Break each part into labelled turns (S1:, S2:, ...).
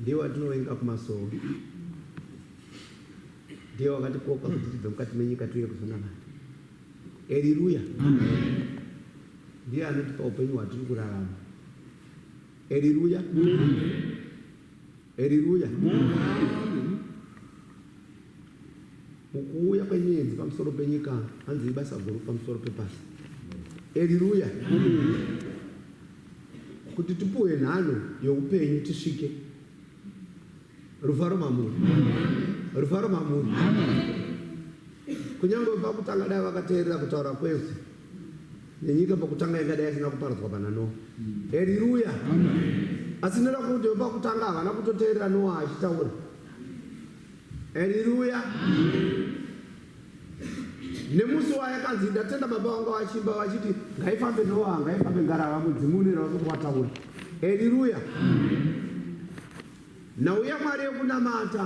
S1: Ndiye watinovenga kumasowe, ndiye wakatikoka kuti tibve mukati menyika tiuye kuzonamata. Eriruya, ndiye anotipa upenyu hwatiri kurarama. Eriruya, eriruya. Mukuuya kwenyenzi pamusoro penyika hanzi ibasa guru pamusoro pepasi. Eriruya, kuti tipuwe nhano youpenyu tisvike rufaro mamuri rufaro mamuri kunyange pakutanga dai vakateerera kutaura kwese nenyika pakutanga ingadai isina kuparadzwa pana noa heriruya asi ndoda kuti vepakutanga havana kutoteerera noa achitaura heriruya nemusi wayakanzi ndatenda baba vanga vachimba vachiti ngaifambe noa ngaifambe ngarava mudzimunira vakuti wataura eriruya nhau yamwari yekunamata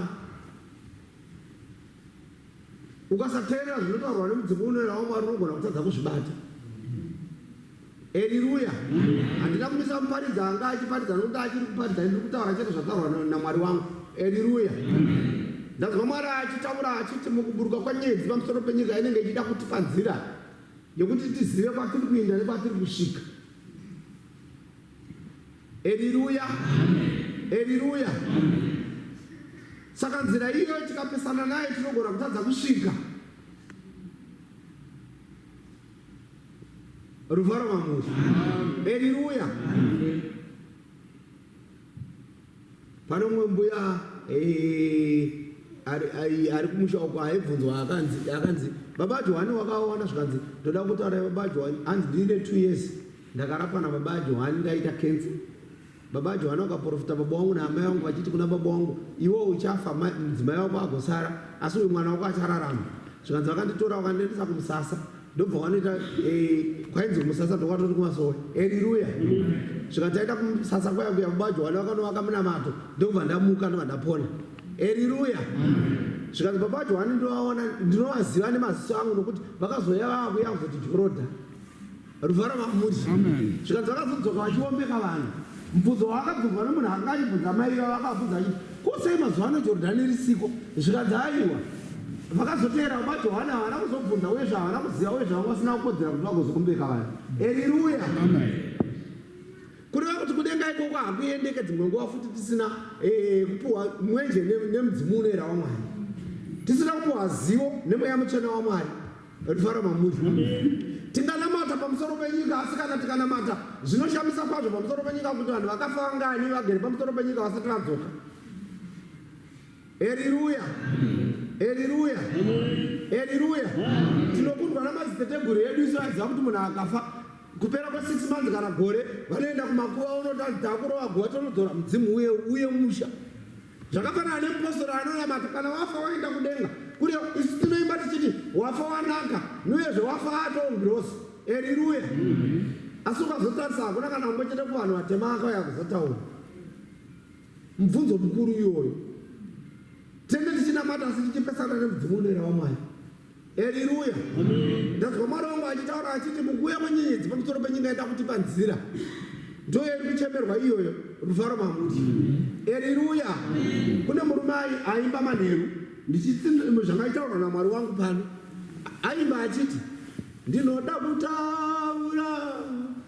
S1: ukasateerera zvinotaurwa nemudzimu unoerawo mwari unogona kutadza kuzvibata Heriruya. Handina kumisa kuparidza anga achiparidza nokuti achiri kuparidza ndiri kutaura chete zvataurwa na- naMwari wangu. Heriruya. Ndanzwa Mwari achitaura achiti mukuburuka kwenyedzi pamusoro penyika inenge ichida kutipa nzira yekuti tizive kwatiri kuinda nekwatiri kusvika. Heriruya. Heriruya. Saka nzira iyoyo tikapesana naye tinogona kutadza kusvika. Ruvaro mamuzi. Haleluya. Pane umwe mbuya eh, ari ari- ari kumusha uko aibvunzwa akanzi akanzi baba Johani wakaona zvikanzi ndoda kutaura baba Johani hanzi ndine 2 years ndakarapwa na baba Johani ndaita cancer Baba Johana wakaprofita baba wangu naamai wangu vachiti kuna baba wangu, iwe uchafa, mudzimai wako agosara, asi uyu mwana wako achararama. Zvikanzi vakanditora vakandiendesa kumusasa, ndobva wanoita eh, kwainzi kumusasa ndokwatori kumasowe. Eriruya! Zvika taita kumusasa kwaya kuya, baba Johana vakanovaka munamato, ndokubva ndamuka ndobva ndapona. Eriruya! Zvikanzi baba Johana ndinovaona, ndinovaziva nemaziso angu nokuti vakazouya vava kuya kuzoti Joroda. Ruvara Mahmud zvikanzi vakazodzoka vachiombeka vanhu. Mubvunzo wavakabvunzwa nemunhu akanga achibvunza amai ivava akavabvunza achiti, Ko sei mazuva ano Jorodhani risiko? Zvikanzi, Aiwa. Vakazoteera baba Johani havana kuzobvunza uye zvahavana kuziva uye zvavanga vasina kukodzera kuti vagozoombeka vanhu. Eriruya! Kureva kuti kudenga ikoko hakuendeke dzimwe nguva futi tisina eh, kupiwa mwenje nemudzimu unoera waMwari, tisina kupiwa zivo nemweya mutsvene waMwari. Rifaro Mamuzi. Tinganamata pamusoro penyika asi kana tikanamata zvinoshamisa kwazvo pamusoro penyika kuti vanhu vakafa vangani vagere pamusoro penyika vasati vadzoka. Heriruya. Heriruya. Heriruya. Tinokundwa namadziteteguru edu isu aiziva kuti munhu akafa kupera kwesix months kana gore vanoenda kumakuva unotakurova guva tonodzora mudzimu uye uye musha Zvakafanana nemupostori anonamata, kana wafa waenda kudenga kure, isu tinoimba tichiti wafa wanaka, nuyezve wafa atoo ngirozi. Eriruya! Mm-hmm. Asi ukazotarisa hakuna kana umwe chete kuvanhu vatema akauya kuzotaura mubvunzo mukuru iyoyo. Tenge tichinamata asi tichipesana nemudzimu unoera wamwari. Haleluya. Ndanzwa Mwari wangu achitaura achiti mukuuya kwenyenyedzi pamusoro penyika yada kutipa nzira. Ndiyo iri kuchemerwa iyoyo rufaro mamuti. Haleluya. Kune murume aimba manheru ndichiti zvamaitaurwa naMwari wangu pano. Aimba achiti ndinoda kutaura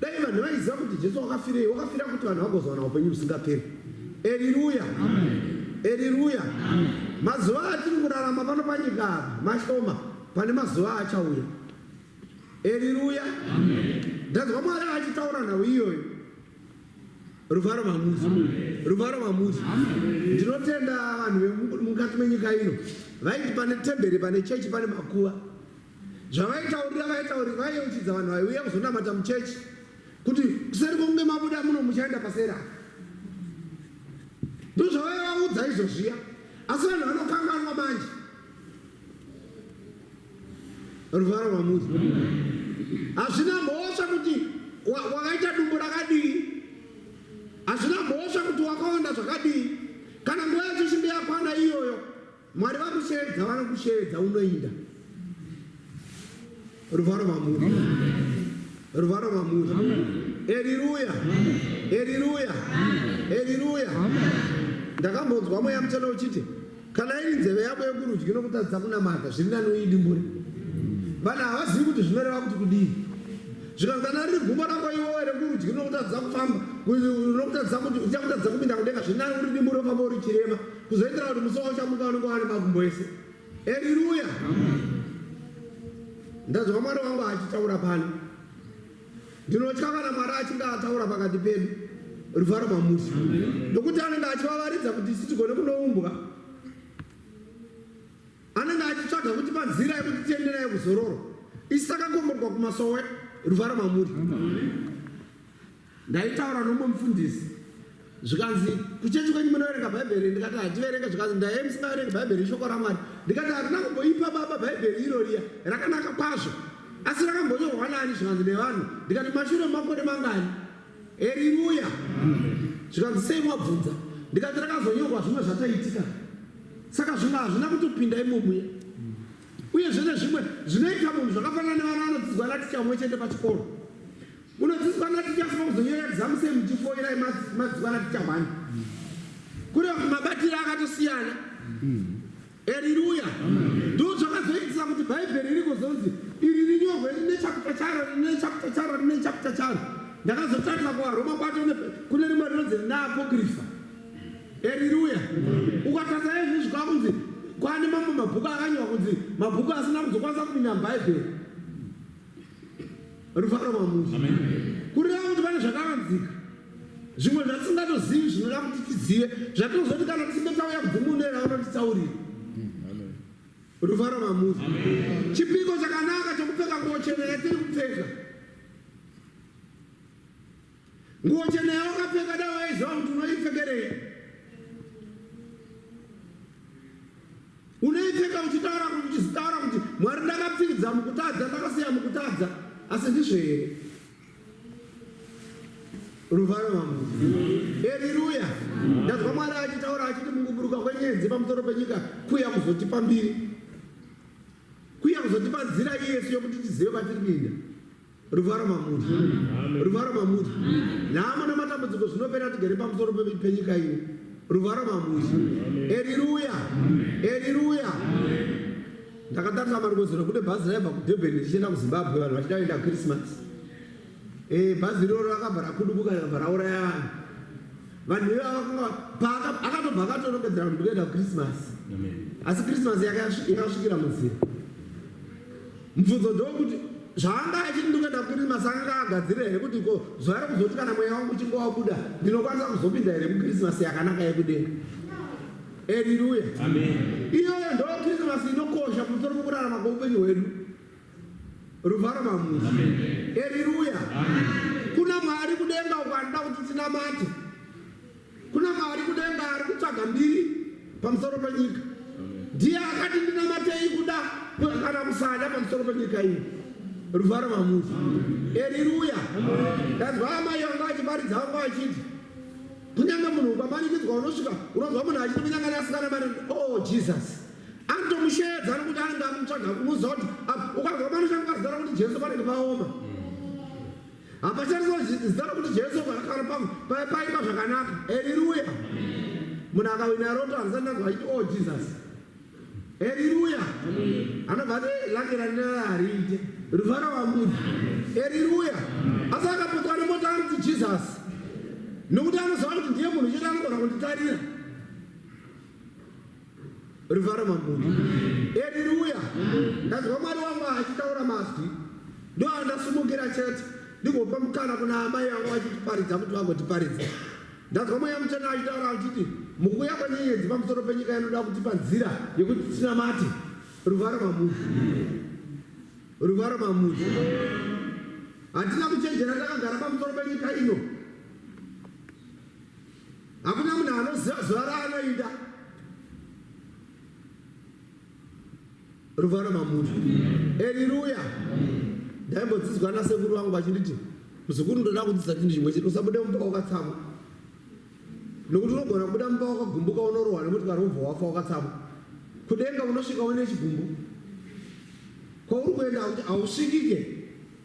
S1: Dai vanhu vaiziva kuti Jesu wakafirei, wakafira kuti vanhu vagozowana upenyu husingaperi. Eriruya, eriruya. Mazuva atiri kurarama pano panyika apa mashoma, pane mazuva achauya. Eriruya, ndanzwa Mwari achitaura nhau iyoyo. Ruvharo mamuzi, ruvharo mamuzi. Ndinotenda vanhu vemukati menyika ino vaiti pane temberi, pane chechi, pane makuva. Zvavaitaurira vaitauri vaiyeuchidza vanhu vaiuya kuzonamata muchechi kuti kuseri kwokunge mabuda muno muchaenda paseri apa. Ndozvavaivaudza izvo zviya, asi vanhu vanokanganwa manje. Ruvaro rwamuzi hazvina mhosva kuti wakaita dumbu rakadii, hazvina mhosva kuti wakaonda zvakadii, kana nguva yacho chimbe yakwana iyoyo Mwari vakushevedza vanokushevedza unoinda ruvharo mamuri ruvharo mamuri eriruya eriruya eriruya ndakambonzwa mweya mutsvene uchiti kana iri nzeve yako yekurudyi nokutadza kunamata zviri nani uidimbure vanhu havazivi kuti zvinoreva kuti kudii zvikanzi kana riri gumbo rako iwowe rekurudyi nokutadza kufamba nokutadza kuti uchakutadza kupinda kudenga zviri nani uridimbure ufamba uri chirema kuzoitira kuti musi waushamuka unenge wari makumbo ese eriruya ndanzwa mwari wangu achitaura pano ndinotya kana mwari achinge ataura pakati pedu ruvharo mamusi nokuti anenge achivavaridza kuti isi tigone kunoumbwa anenge achitsvaga kuti panzira yekuti tienderai kuzororo isi takakomborwa kumasowe ruvharo mamuri Ndaitaura nomumwe mufundisi zvikanzi kuchechi kwenyu munoverenga bhaibheri ndikati hativerenge zvikanzi ndaiye musingaverengi bhaibheri ishoko ramwari ndikati harina kumboipa baba bhaibheri iro riya rakanaka kwazvo asi rakambonyorwa nani zvikanzi nevanhu ndikati mashure makore mangani eriruya zvikanzi sei mwabvunza ndikati rakazonyorwa zvimwe zvataitika saka zvimwe hazvina kutopinda imomuya uye zvene zvimwe zvinoita munhu zvakafanana nevana vanodzidzwa naticha mumwe chete pachikoro Unodziswana tichasuma kuzonyora exam same tifoira madzikwana tichahwana. Kune mabatire akatosiyana. Haleluya. Ndoo zvakazoitisa kuti Bhaibheri riri kuzonzi iri rinyorwe rine chapter charo rine chapter charo rine chapter charo. Ndakazotarisa kuvaRoma kwacho kune rimwe rinonzi rina apokrifa. Haleluya. Ukatarisa izvi zvikanzi kwane mamwe mabhuku akanyorwa kunzi mabhuku asina kuzokwanisa kupinda muBhaibheri. rufaro mamusha kureva kuti pane zvakavanzika zvimwe zvatisingatozivi zvinoda kuti tizive zvatinozoti kana tisinge tauya kudzimunera vanotitsaurira rufaro mamusha chipiko chakanaka chokupfeka nguvo chena yatiri kupfeka Nguo chena yawakapfeka dai waiziva kuti unoipfekerei. Unoipfeka uchitaura kuti uchitaura kuti Mwari ndakapfidza mukutadza ndakasiya mukutadza asi ndizvo here? Ruvaro wangu. Haleluya. Ndazwa Mwari achitaura achiti mukuburuka kwenyenzi pamusoro penyika kuya kuzotipa mbiri. Kuya kuzotipa nzira iyesu yokuti tizive patiri kuenda. Ruvara mamuri. Ruvara mamuri. Nhamo namatambudziko zvinopera tigere pamusoro penyika ino. Ruvara mamuri. Eriruya. Eriruya. Ndakatarisa marukozero kune bhazi raibva kuDurban richienda kuZimbabwe vanhu vachida kuenda Christmas. Eh bhazi iroro rakabva rakudubuka rakabva rauraya vanhu. Vanhu ivavo vakanga paaka- akatobva akatorongedzera kuti kuenda kuChristmas. Amen. Asi Christmas yake yasvi- yakasvikira munzira. Mubvunzo ndokuti zvaanga achiti ndikuenda kurima saka ngaagadzire here kuti ko zuva rekuzoti kana mweya wangu uchinge wabuda ndinokwanisa kuzopinda here mukrisimasi yakanaka yekudenga eriruya iyoyo ndo krisimasi inokosha kumusoro kwekurarama kweupenyu hwedu ruvharo mamuzi eriruya kuna mwari kudenga uko anoda kuti tinamate Kuna Mwari kudenga ari kutsvaga mbiri pamusoro penyika. Ndiye akati ndinamatei kuda kana kusada pamusoro penyika iyi. Ruvaro mamuzi. Eriruya. Ndanzwa amai vangu vachiparidza vangu vachiti kunyange munhu ukamanikidzwa unosvika unonzwa munhu achiti kunyange nasikana mari oh Jesus. Anotomusheedza nokuti anenge amutsvaga kumuziva kuti ukanzwa manoshanga pazidara kuti Jesu panenge paoma. Hapatariswa zita rokuti Jesu kana pamwe paya paimba zvakanaka. Heriruya. Munhu akawina roto harisati ndanzwa achiti oh Jesus. Heriruya. Anobva ati eh, lake randinara hariite. Ruvara wamburi. Heriruya. Asi akapotswa nemota anoti Jesus. Nokuti anoziva kuti ndiye munhu chete anogona kunditarira. Rivara mambundu. Haleluya. Ndanzwa Mwari wangu achitaura mazwi. Ndiwo andasumukira chete. Ndigopa mukana kuna amai yangu vachitiparidza kuti vagotiparidza. Ndanzwa mweya muchena achitaura achiti mukuuya kwenyenyedzi pamusoro penyika inoda kutipa nzira yekuti tinamate. Ruvara mamuzi. Ruvara mamuzi. Hatina kuchenjera takagara pamusoro penyika ino. Hakuna munhu anoziva zuva raanoida. Ruvaro mamuri. Haleluya. Ndaimbodzidzwa nasekuru vangu vachinditi muzukuru ndoda kudzidza chinhu chimwe chete usabude mumba wakatsamwa. Nokuti unogona kubuda mumba wakagumbuka unorohwa nemotikari wobva wafa wakatsamwa. Kudenga unosvika une chigumbu. Kwauri kuenda hausvikike.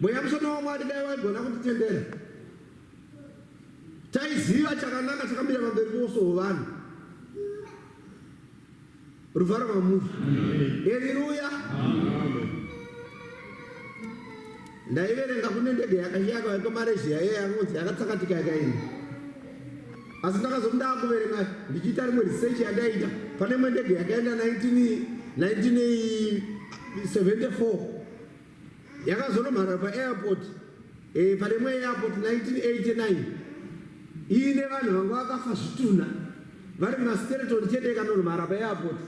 S1: mweya mushoma wamwari dai waigona kutitendera taiziva chakanaka chakamira pamberi poso hovanhu ruvharo mamuri eriruya ndaiverenga kune ndege yakashiyaka vaiko maresia yeye anonzi yakatsakatika yakaenda asi ndakazomu ndaakuverenga ndichiita rimwe research yandaita pane imwe ndege yakaenda 1974 yakazonomhara paairport eh, palemwe airport 1989 iine vanhu vanga vakafa zvitunha vari mumastereton chete ikanonomhara paairport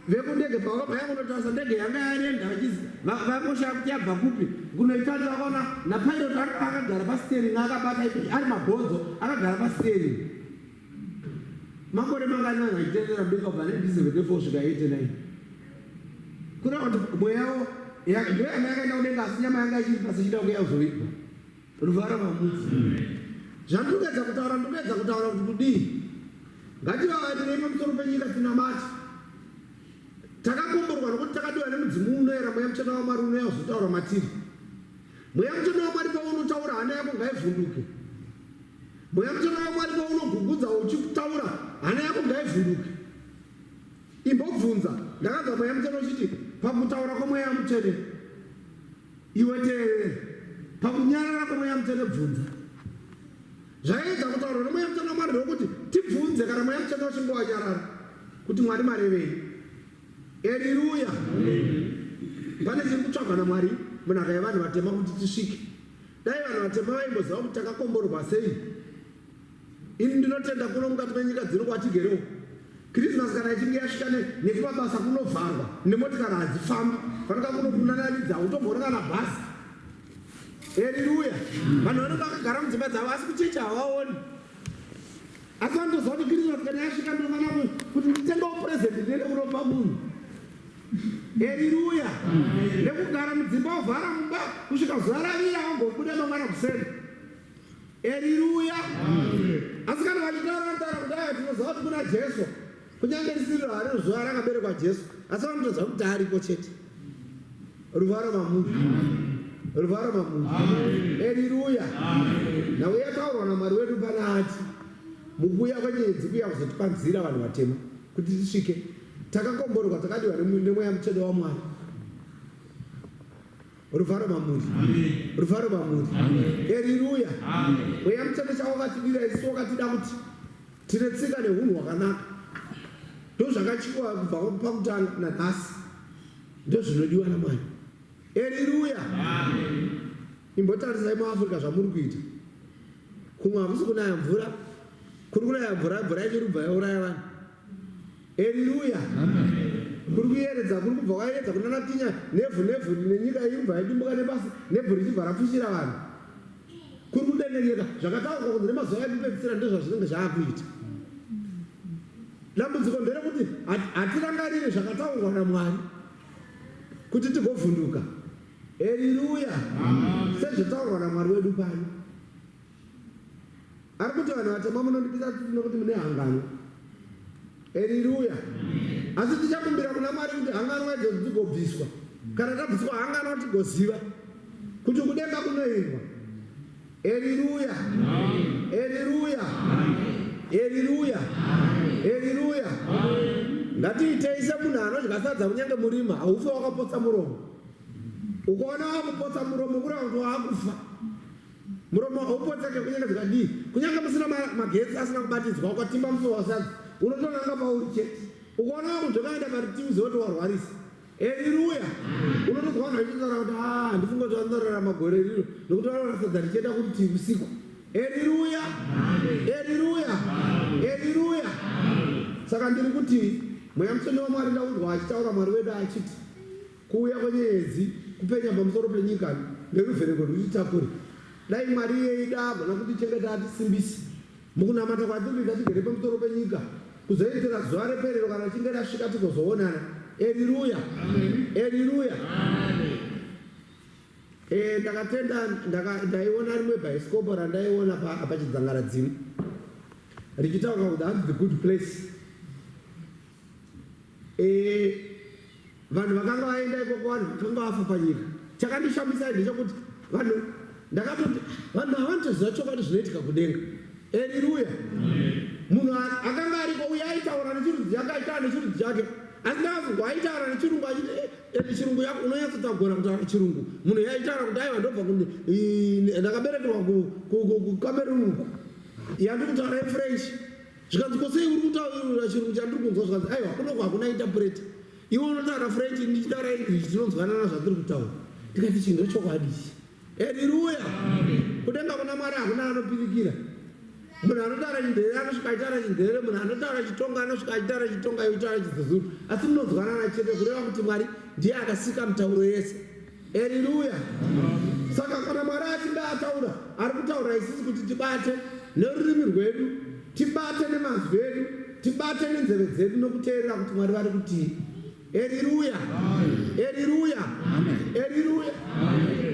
S1: vekundege pavakabayakunotarisa ndege yanga yarenda vachizi vakoshaya kuti yabva kupi kunoitati vakaona napilot akagara pastering akabata ari mabhonzo akagara pastering Makore manganani achitevera mberi kubva 1974 kusvika 89? Kureva kuti mweya yawo ndoyanga yakaenda kudenga asi nyama yanga ichiri pasi ichida kuya kuzoitwa ruvara mamudzi. Zvandinoedza kutaura ndinoedza kutaura kuti kudii? Ngativavarire pamusoro penyika tinamati. Takakomborwa nokuti takadiwa nemudzimu unoera mweya mutsvene waMwari unouya kuzotaura matiri. Mweya mutsvene waMwari paunotaura hana yako ngaivhunduke. Mweya mutsvene waMwari paunogugudza uchitaura, hana yako ngaivhunduke. Imbobvunza, ndakanzwa mweya mutsvene uchiti, pakutaura kwemweya mutsvene, iwe teerera. Pakunyarara kwemweya mutsvene, bvunza. Zvaiedza kutaurwa nemweya mutsvene waMwari ndewekuti tibvunze kana mweya mutsvene uchinge wanyarara kuti Mwari marevei. Eriruya! Pane chiri kutsvagwa naMwari munhaka yevanhu vatema kuti tisvike. Dai vanhu vatema vaimboziva kuti takakomborwa sei. Ini ndinotenda kuno mukati menyika dzino kwatigerewo. Christmas kana ichinge yasvika nekumabasa kunovharwa nemotikari hadzifambi fanaka kuno kunanaridza utomboona kana bhasi. Haleluya. Vanhu vanenge vakagara mudzimba dzavo asi kuchecha havaoni. Asi vanotoziva kuti Christmas kana yasvika ndinofanira kuti nditengewo present ndine kuropa munhu. Heriruya. Nekugara mudzimba ovhara mumba kusvika zuva ravira vagobuda mangwana kuseni. Heriruya. Asi kana vachitaura vanotaura kudai tinoziva kuti kuna Jesu. Kunyange risiri raro zuva rakaberekwa Jesu asi vanotoziva kuti ariko chete. Ruvaro mamuri. Ruvaro mamuri. Heriruya. Nhau yataurwa naMwari wedu panaati mukuuya kwenyedzi kuya kuzotipa nzira vanhu vatema kuti tisvike Takakomborerwa, takadiwa nemweya mutsvene waMwari. Rufaro mamuri, rufaro mamuri, eriruya. Mweya mutsvene chawakatidira isu, wakatida kuti tine tsika nehunhu hwakanaka. Ndozvakatyiwa kubva pakutanga nanhasi, ndozvinodiwa naMwari. Eriruya, imbotarisai muAfrica zvamuri kuita. Kumwe hakusi kunaya mvura, kuri kunaya mvura, mvura ichirubva yauraya vanhu. Heriruya. Kuri kuyeredza kuri kubva kwayeredza kunanatinya nevhu nevhu nenyika iri kubva yadimbuka nepasi nevhu richibva rapfushira vanhu. Kuri kudengenyeka zvakataurwa kunzi nemazuva ekupedzisira ndozvazvinenge zvaakuita. Dambudziko nderekuti hatirangariri zvakataurwa naMwari kuti tigovhunduka. Heriruya. Sezvataurwa naMwari wedu pano. Ari kuti vanhu vatema munondipisa tsitsi nokuti mune hanganwa. Heriruya. Asi tichakumbira kuna Mwari kuti hanganwa idzo dzigobviswa. Kana tabviswa hanganwa tigoziva kuti kudenga kunoendwa. Heriruya. Heriruya. Heriruya. Heriruya. Ngatiitei semunhu anodya sadza kunyange murima haufe wakapotsa muromo. Ukaona wakupotsa muromo kureva kuti wakufa. Muromo haupoteke kunyengedza kadii. Kunyange musina magetsi asina kubatidzwa ukatimba mufi wasadzi unotonanga pauri chete. Ukaona vakunzvekaenda paritivi zoti warwarisa. Eriruya unotonzwa vanhu vachitaura kuti a ah, handifunge kuti vanorarama gore riro nokuti vanoona sadza richienda kuritivi usiku. Eriruya, eriruya, eriruya. Saka ndiri kuti mweya mutsvene wamwari ndaunzwa achitaura mwari wedu achiti Kuuya kwenyeedzi, kupenya pamusoro penyika neruvheneko rwetitakure. Dai Mwari iye eida agona kutichengeta atisimbise mukunamata kwatiri kuita tigere pamusoro penyika kuzoitira zuva reperero kana richinge rasvika tigozoonana. Eriruya! Eriruya! Eh, ndakatenda ndaka- ndaiona rimwe bhaisikopo randaiona pa- pachidzangaradzimu richitaura kuti hanzi the good place Eh, vanhu vakanga vaenda ikoko vanhu vakanga vafa panyika. Chakandishamisa ndechekuti vanhu ndakatoti vanhu havanotoziva chokwadi zvinoitika kudenga. Haleluya. Munhu akanga ariko uye aitaura nechirudzi chake aitaura nechirudzi chake asi ndakazonzwa aitaura nechirungu achiti eh, ende chirungu yako unonyatsotagona kutaura chirungu munhu yaitaura kuti aiva ndobva ndakaberekerwa kucameroon uku yandikutaura ifrench zvikanzi ko sei uri kutaura chirungu chandiri kunzwa zvikanzi aiwa kunoko hakuna intapureta iwe unotaura french ndichitaura english tinonzwanana zvatiri kutaura ndikati chinhu ndochokwadi ichi eriruya kudenga kuna mwari hakuna anopirikira munhu anotaura chindhere anosvika achitaura chindhere munhu anotaura chitonga anosvika achitaura chitonga yotaura chizezuru asi munonzwanana chete kureva kuti mwari ndiye akasika mitauro yese Haleluya. Saka kana Mwari achinge ataura, ari kutaura isisi kuti tibate nerurimi rwedu, tibate nemazwi edu, tibate nenzeve dzedu nokuteerera kuti Mwari vari kutii. Haleluya. Haleluya. Haleluya.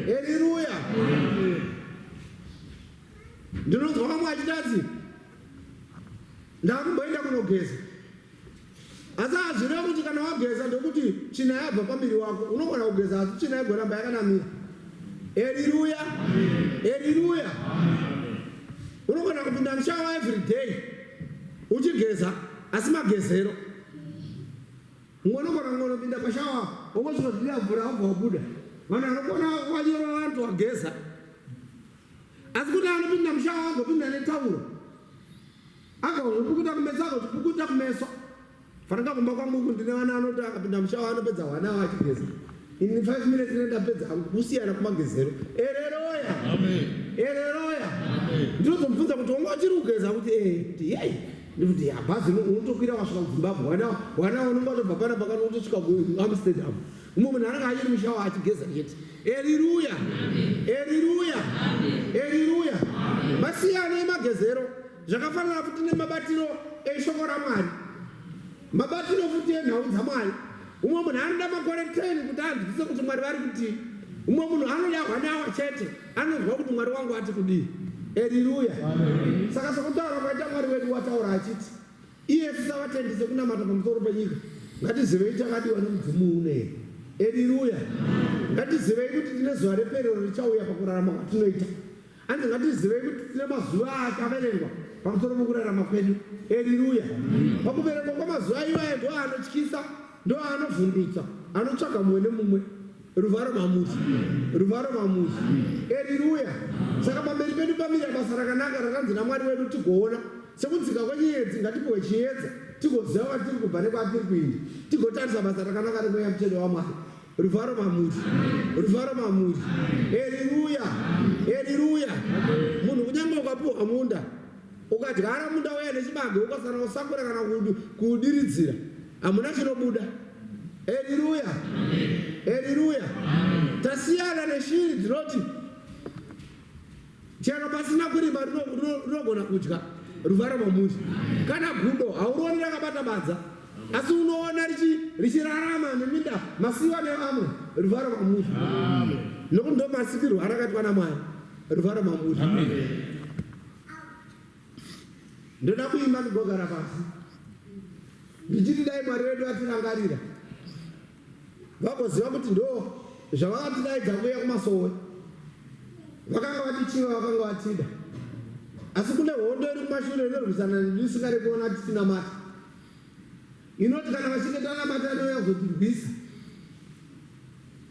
S1: Haleluya. Ndinonzwa vamwe vachitadzi ndakumboenda kunogeza Asi hazvireva kuti kana wageza ndokuti tsvina yabva pambiri wako. Unogona kugeza asi tsvina igoramba yakanamira. Eriruya. Eriruya. Unogona kupinda mushawa every day uchigeza asi magezero. Mumwe unogona kungonopinda pashawa wongozvinoziva mvura wobva wabuda. Vanhu vanogona wanyora vanhu wageza. Asi kuti anopinda mushawa agopinda netauro. Akazopukuta kumeso akazopukuta kumeso. Fanaka kumba kwangu uku ndine vana anoti akapinda mushawa anopedza hwana awo achigeza. In 5 minutes ndinenda pedza hangu kusiyana kumagezero. Ereroya. Amen. Ereroya. Amen. Ndinozomubvunza kuti wanga uchiri kugeza kuti eh kuti yei. Ndikuti ya bhazi unotokwira wasvika kuZimbabwe. Hwana hwana unenge watobva pana pakati unotosvika kuAmsterdam. Umwe munhu anenge achiri mushawa achigeza chete. Eriruya, eriruya, eriruya. Masiyana emagezero zvakafanana futi nemabatiro eshoko raMwari, mabatiro futi enhau dzaMwari. Umwe munhu anoda makore 10 kuti anzwise kuti Mwari vari kutii. Umwe munhu anoda hwanawa chete anonzwa kuti Mwari wangu ati kudii. Eriruya. Saka sokutaura kwaita Mwari wedu wataura achiti Iye sisavatendi sekunamata pamusoro penyika ngatizivei takadiwa nemudzimu unei eriruya ngatizivei kuti tine zuva reperero richauya pakurarama kwatinoita anzi ngatizivei kuti tine mazuva akaverengwa pamusoro pokurarama kwedu eriruya pakuverengwa kwamazuva iwaye ndoanotyisa ndoanovhundutsa anotsvaga mumwe nemumwe Ruvharo mamuti, ruvharo mamuti. Eriruya. Saka pamberi pedu pamira basa rakanaka rakanzi naMwari wedu tigoona sekudzika kwenyiyedzi ngatipiwe chiyedza tigoziva kwatiri kubva nekwatiri kuinda tigotarisa basa rakanaka remweya mutsvene wamwari ruvharo mamuri ruvharo mamuri eriruya eriruya munhu kunyange ukapiwa munda Ukadyara munda uya nechibage ukasana kusakura kana kudiridzira hamuna chinobuda. Heriruya, heriruya. Tasiyana neshiri dzinoti chero pasina kurima rinogona kudya ruvara mamuri kana gudo haurooni rakabata badza asi unoona richirarama neminda masiwa nevamwe ruvara mamuri nokuti ndomasikirwo arakaitwa namwari ruvara mamuri ndoda kuimba ndigogara pasi ndichiti dai mwari vedu vatirangarira vagoziva kuti ndo zvavakatidaidza kuuya kumasowe vakanga vatichiva vakanga vatida asi kune hondo iri kumashure inorwisana nedu isingari kuona tisina mata inoti kana vachinge tanamata anouya kuzotirwisa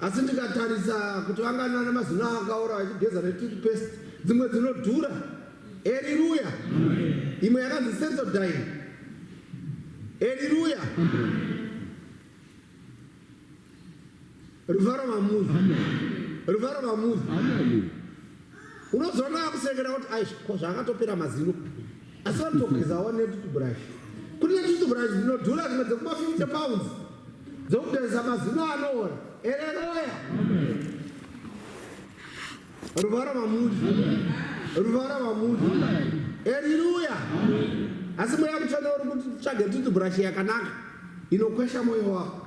S1: Asi ndikatarisa kuti vanganana mazino akaora vachigeza netoothpaste dzimwe dzinodhura. Eriruya. Imwe yakanzi Sensodyne. Eriruya. Ruvaro mamuzi. Ruvaro mamuzi. Unozoona akusekera kuti aisha ko zvaakatopera mazino. Asi vanotogeza wane tutuburashi. Kune tutuburashi dzinodhura dzimwe dzekuba 50 pounds dzokugeza mazino anoora. Ereroya. Ruvara vamudi. Ruvara vamudi. Eriruya. Asi mweya mutsvene uri kuti tsvage tutuburashi yakanaka inokwesha moyo wako.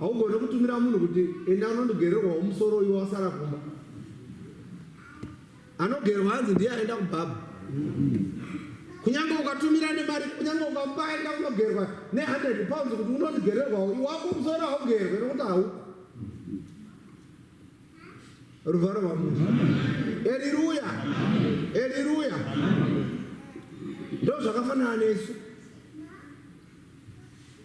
S1: Haugone kutumira munhu kuti enda unondigererwawo musoro uyu wasara kumba. Anogerwa hanzi ndiye aenda kubhabha. Kunyange ukatumira nemari, kunyange ukamupa aenda kunogerwa ne100 pounds kuti unondigererwawo, iwako musoro haugerwe nokuti hauko. Ruvharo rwaMwari. Eriruya. Eriruya. Ndozvakafanana nesu.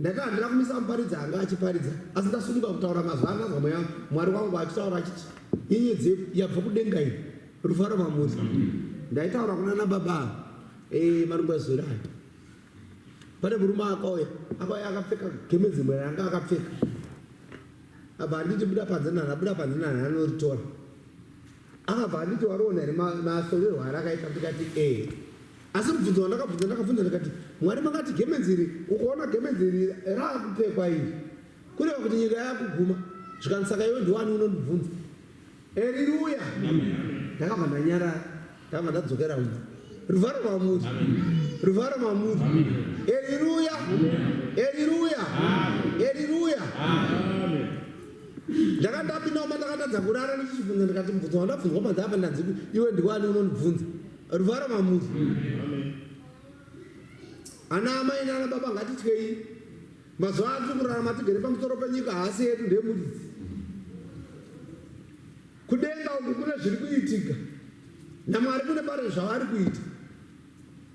S1: Ndakanga handina kumisa muparidzi anga achiparidza asi ndasumuka kutaura mazwi anganzwa mweya mwari wangu achitaura achiti nyenyedzi yabva kudenga iyi rufaro mamuri ndaitaura kuna na baba ava eh, marungwazwiri aya pane murume akauya akauya akapfeka gemenzi mwe ranga akapfeka apa handiti buda panze nani abuda panze nani anoritora Apa handiti wariona here masorerwo ma, arakaita ndikati ee asi mubvunzo wandakabvunza ndakabvunza ndikati mwari makati gemenzi iri ukaona gemenzi iri raakupfekwa iri kureva kuti nyika yakuguma zvikanzi saka iwe ndiwani unondibvunza eriruya ndakabva ndanyarara ndakabva ndadzokera uno ruvharo mamuri ruvharo mamuri eriruya eriruya eriruya Ndakati ndapinda mumba ndakatadza kurara ndichibvunza ndikati mubvunzo wandabvunzwa panze apa ndanzi iwe ndiwani unondibvunza ruvara mamuzi ana amai nana baba ngatityei mazuva ano tiri kurarama tigere pamusoro penyika haasi yedu ndemuridzi kudenga uku kune zviri kuitika namwari kune pari zvavari kuita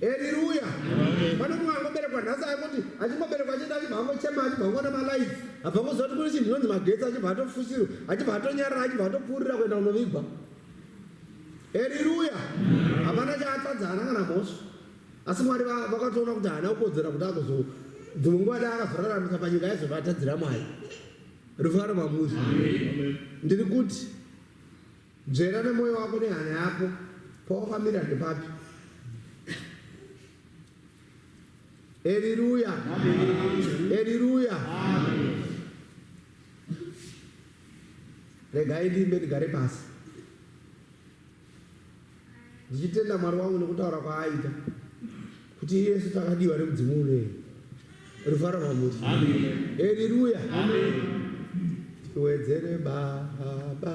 S1: Haleluya. Pane mumwe angoberekwa nhasi akuti achingoberekwa achienda achibva angochema achibva angoona malights abva angoziva kuti kune chinhu chinonzi magetsi achibva atofushirwa achibva atonyarira achibva atopfuurira kuenda kunovigwa. Haleluya. Hapana chaatadza haana kana mhosva. Asi Mwari vakatoona kuti haana kukodzera kuti agozo dzimwe nguva dai akazoraramisa panyika aizovatadzira Mwari. Rufaro mamuri. Ndiri kuti Nzvera nemoyo wako nehana yako pawakamira ndepapi? Eriruya, eriruya. Regai ndiimbe ndigare pasi. Ndichitenda Mwari wangu nekutaura kwaaita kuti iyesu takadiwa nemudzimu unei rufaro rwamuri eriruya tiwedzere baba